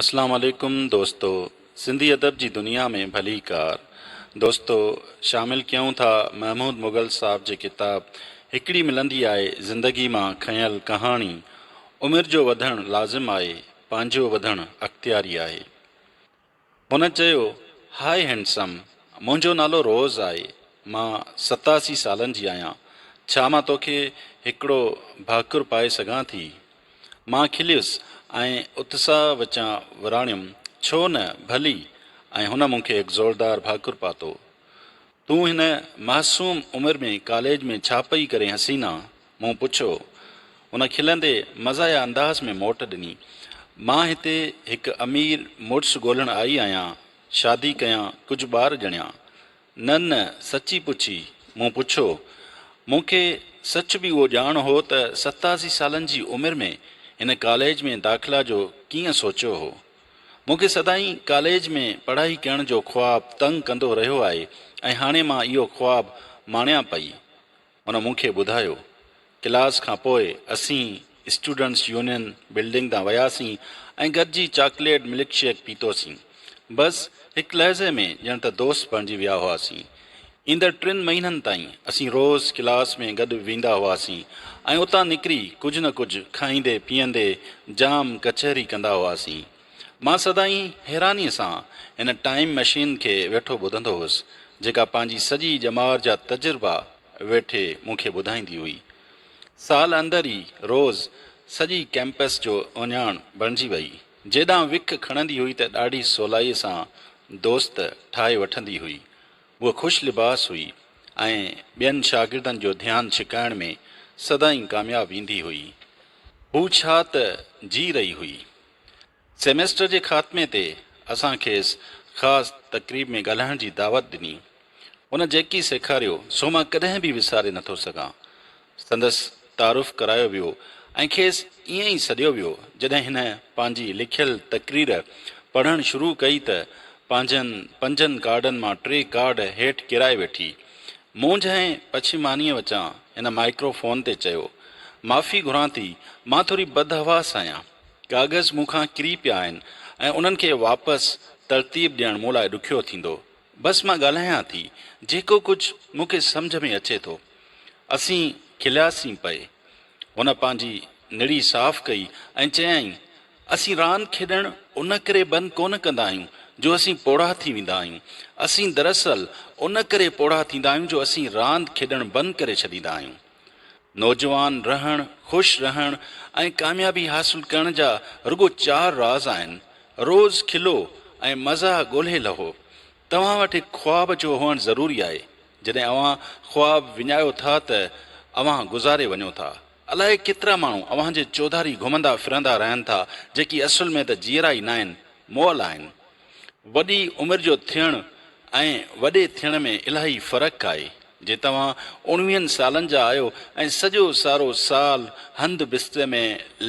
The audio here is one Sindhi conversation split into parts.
اسلام عليڪم دوستو سنڌي ادب جي دنيا ۾ ڀلي ڪار دوستو شامل ڪيون ٿا محمود مغل صاحب جي ڪتاب هڪڙي ملندي آهي زندگي مان کنيل ڪهاڻي عمر جو وڌڻ لازم آهي پنهنجو وڌڻ اختياري آهي هن چيو، هاء هينڊسم، منهنجو نالو روز آهي، مان ستاسي سالن جي آهيان، ڇا مان توکي هڪڙو ڀاڪر پائي سگهان ٿي؟ مان کليس ۽ اتساهه وچان وراڻيم، ڇو نه، ڀلي، ۽ هن مون کي هڪ زوردار ڀاڪر پاتو. تون هن معصوم عمر ۾ ڪاليج ۾ ڇا پئي ڪرين حسينا؟ مون پڇيو. هن کلندي مزاحيه انداز ۾ موٽ ڏني. مان هتي هڪ امير مڙس ڳولهڻ آئي آهيان، شادي ڪيان، ڪجهه ٻار ڄڻيان. نه نه سچي پڇي؟ مون پڇيو. مون کي سچ به اهو ڄاڻ هو ته ستاسي سالن جي عمر ۾ هن ڪاليج ۾ داخلا جو ڪيئن سوچيو هو. مون کي سدائين ڪاليج ۾ پڙهائي ڪيڻ جو خواب تنگ ڪندو رهيو آهي ۽ هاڻي مان اهو خواب ماڻيان پئي. هن مون کي ٻڌايو. ڪلاس کان پوء اسين اسٽوڊنٽس يونين بلڊنگ تان وياسين ۽ گڏجي چاڪليٽ ملڪ شيڪ پيتوسين. بس هڪ لحظي ۾ ڄڻ ته دوست بڻجي ويا هئاسين. ايندڙ ٽن مهينن تائين اسين روز ڪلاس ۾ گڏ ويندا هئاسين ۽ اتان نڪري ڪجهه نه ڪجهه کائيندي پيئندي جام ڪچهري ڪندا هئاسين. مان سدائين حيرانيء سان هن ٽائيم مشين کي ويٺو ٻڌندو هوس، جيڪا پنهنجي سڄي ڄمار جا تجربا ويٺي مون کي ٻڌائيندي هئي. سال اندر ئي روز سڄي ڪئمپس جو اهڃاڻ بڻجي وئي. جيڏانهن وک کڻندي هئي ته ڏاڍي سولائيء سان دوست ٺاهي وٺندي هئي. هوء خوش لباس هئي ۽ ٻين شاگردن جو ڌيان ڇڪائڻ ۾ سدائين ڪامياب ايندي هئي. هوء ڇا ته جي رهي هئي. سيميسٽر جي خاتمي تي اسان کيس خاص تقريب ۾ ڳالهائڻ جي دعوت ڏني. هن جيڪي سيکاريو سو مان ڪڏهن به وساري نٿو سگهان. سندس تعارف ڪرايو ويو ۽ کيس ائين ئي سڏيو ويو. جڏهن هن پنهنجي لکيل تقرير پڙهڻ شروع ڪئي ته پنهنجن پنجن ڪارڊن مان ٽي ڪارڊ هيٺ ڪيرائي ويٺي. مونجهه ۽ پڇيمانيء وچان هن مائڪرو فون تي چيو، معافي گهران ٿي، مان ٿوري بدحواس آهيان. ڪاغذ مون کان ڪري پيا آهن ۽ انهن کي واپس ترتيب ڏيڻ مون لاء ڏکيو ٿيندو. بس مان ڳالهايان ٿي، جيڪو ڪجهه مون کي سمجهه ۾ اچي ٿو. اسين کلياسين پئي. هن پنهنجي نڙي صاف ڪئي ۽ چيائين، اسين راند کيڏڻ ان ڪري بند ڪونه ڪندا آهيون جو اسين پوڙها ٿي ويندا آهيون. اسين دراصل ان ڪري پوڙها ٿيندا آهيون جو اسين راند کيڏڻ بند ڪري ڇڏيندا آهيون. نوجوان رهڻ، خوش رهڻ ۽ ڪاميابي حاصل ڪرڻ جا رڳو چار راز آهن، روز کلو ۽ مزاح ڳولهي لهو. توهان وٽ هڪ خواب جو هئڻ ضروري آهي. جڏهن اوهان خواب وڃايو ٿا ته اوهان گذاري وڃو ٿا. الائي ڪيترا ماڻهو اوهان جي چوڌاري گهمندا ڦرندا رهن ٿا جيڪي اصل ۾ ته جيئرا ئي ناهن، مئل آهن. وڏي عمر جو ٿيڻ ۽ وڏي ٿيڻ ۾ الاهي فرق آهي. جي توهان اڻويهن سالن جا آهيو ۽ سڄو سارو سال هنڌ بستري ۾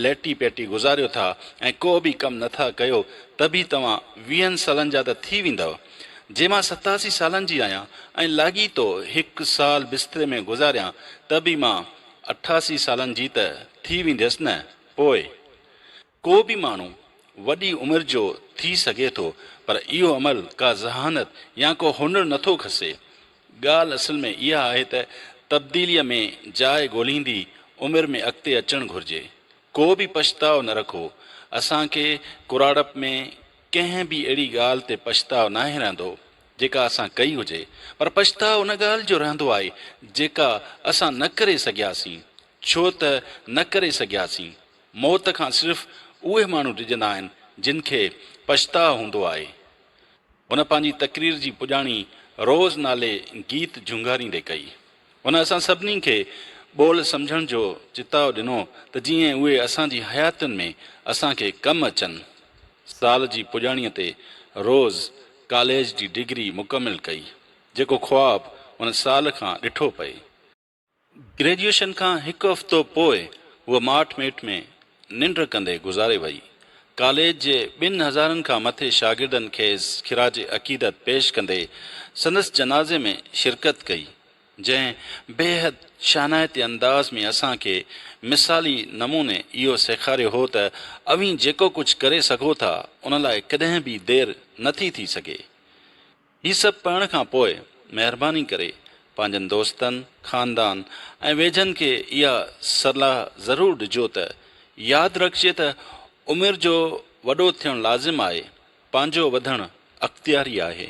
ليٽي پيٽي گذاريو ٿا ۽ ڪو به ڪم نه ٿا ڪيو ته به توهان ويهن سالن جا ته ٿي ويندؤ. جي مان ستاسي سالن جي آهيان ۽ لاڳيتو هڪ سال بستري ۾ گذاريان ته به مان اٺاسي سالن جي ته ٿي وينديس نه. پوء ڪو به ماڻهو وڏي عمر جو ٿي سگهي ٿو پر اهو عمل ڪا ذهانت يا ڪو هنر نه ٿو کسي. ڳالهه اصل ۾ اها آهي ته تبديليء ۾ جاء ڳولهيندي عمر ۾ اڳتي اچڻ گهرجي. ڪو به پڇتاء نه رکو. اسان کي ڪراڙپ ۾ ڪنهن به اهڙي ڳالهه تي پڇتاء ناهي رهندو جيڪا اسان ڪئي هجي پر پڇتاء ان ڳالهه جو رهندو آهي جيڪا اسان نه ڪري سگهياسين ڇو ته نه ڪري سگهياسين موت کان صرف اهي ماڻهو ڊڄندا آهن جن کي پڇتاء هوندو آهي. هن پنهنجي تقرير جي پڄاڻي روز نالي گيت جهونگاريندي ڪئي. هن اسان سڀني کي ٻول سمجهڻ جو چتاء ڏنو ته جيئن اهي اسان جي حياتين ۾ اسان کي ڪم اچن. سال جي پڄاڻيء تي روز ڪاليج جي ڊگري مڪمل ڪئي، جيڪو خواب هن سال کان ڏٺو پئي. گريجوئيشن کان هڪ هفتو پوء هوء ماٺ ميٺ ۾ ننڊ ڪندي گذاري وئي. ڪاليج جي ٻن هزارن کان مٿي شاگردن کيس خراج عقيدت پيش ڪندي سندس جنازي ۾ شرڪت ڪئي، جنهن بيحد شانائتي انداز ۾ اسان کي مثالي نموني اهو سيکاريو هو ته اوهين جيڪو ڪجهه ڪري سگهو ٿا ان لاء ڪڏهن به دير نٿي ٿي سگهي. هي سڀ پڙهڻ کان پوء مهرباني ڪري پنهنجن دوستن، خاندان ۽ ويجهن کي اها صلاح ضرور ڏجو ته ياد رکجي ته عمر جو وڏو ٿيڻ لازم آهي، پنهنجو وڌڻ اختياري آهي.